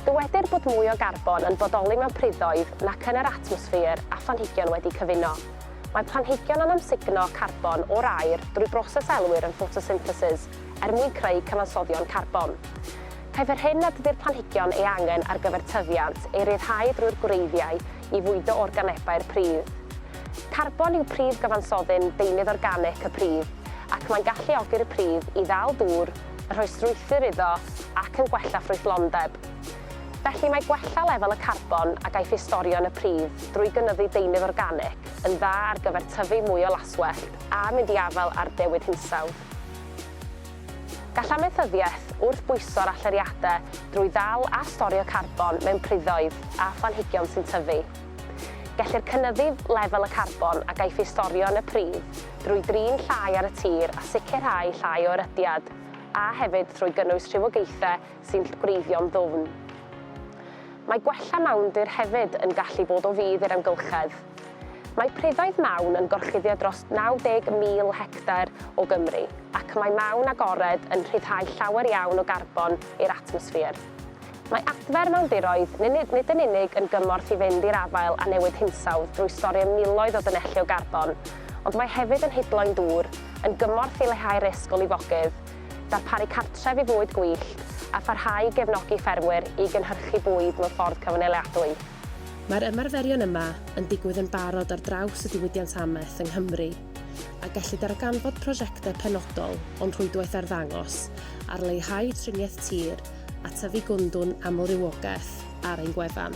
Dywedir bod mwy o garbon yn bodoli mewn priddoedd nac yn yr atmosffer â phlanhigion wedi cyfuno. Mae planhigion yn amsugno carbon o'r aer drwy broses a elwir yn ffotosynthesis er mwyn creu cyfansoddion carbon. Caiff yr hyn nad ydy'r planhigion ei angen ar gyfer tyfiant ei ryddhau drwy'r gwreiddiau i fwydo organebau'r pridd. Carbon yw prif gyfansoddyn deunydd organic y pridd ac mae'n galluogi'r pridd i ddal dŵr, yn rhoi strwythur iddo ac yn gwella ffrwythlondeb. Felly mae gwella lefel y carbon a gaiff ei storio yn y pridd drwy gynyddu deunydd organic yn dda ar gyfer tyfu mwy o laswellt a mynd i afael â'r dewid hinsawdd. Gall amaethyddiaeth wrth bwyso'r allyriadau drwy ddal a storio carbon mewn priddoedd a phlanhigion sy'n tyfu. Gellir cynyddu lefel y carbon a gaiff ei storio yn y pridd drwy drin llai ar y tir a sicrhau llai o erydiad, a hefyd trwy gynnwys rhywogaethau sy'n gwreiddio'n ddwfn. Mae gwella mawndir hefyd yn gallu bod o fudd i'r amgylchedd. Mae priddoedd mawn yn gorchuddio dros 90,000 hectar o Gymru, ac mae mawn agored yn rhyddhau llawer iawn o garbon i'r atmosffer. Mae adfer mawndiroedd nid yn unig yn gymorth i fynd i'r afael â newid hinsawdd drwy storio miloedd o dynelli o garbon, ond mae hefyd yn hidloi'n dŵr, yn gymorth i leihau'r risg o lifogydd, darparu cartref i fwyd gwyllt, a pharhau i gefnogi ffermwyr i gynhyrchu bwyd mewn ffordd cyfnaliadwy. Mae'r ymarferion yma yn digwydd yn barod ar draws y diwydiant amaeth yng Nghymru, a gellid darganfod prosiectau penodol o'n rhwydwaith arddangos ar leihau triniaeth tir a tyfu gwyndwn amlrywogaeth ar ein gwefan.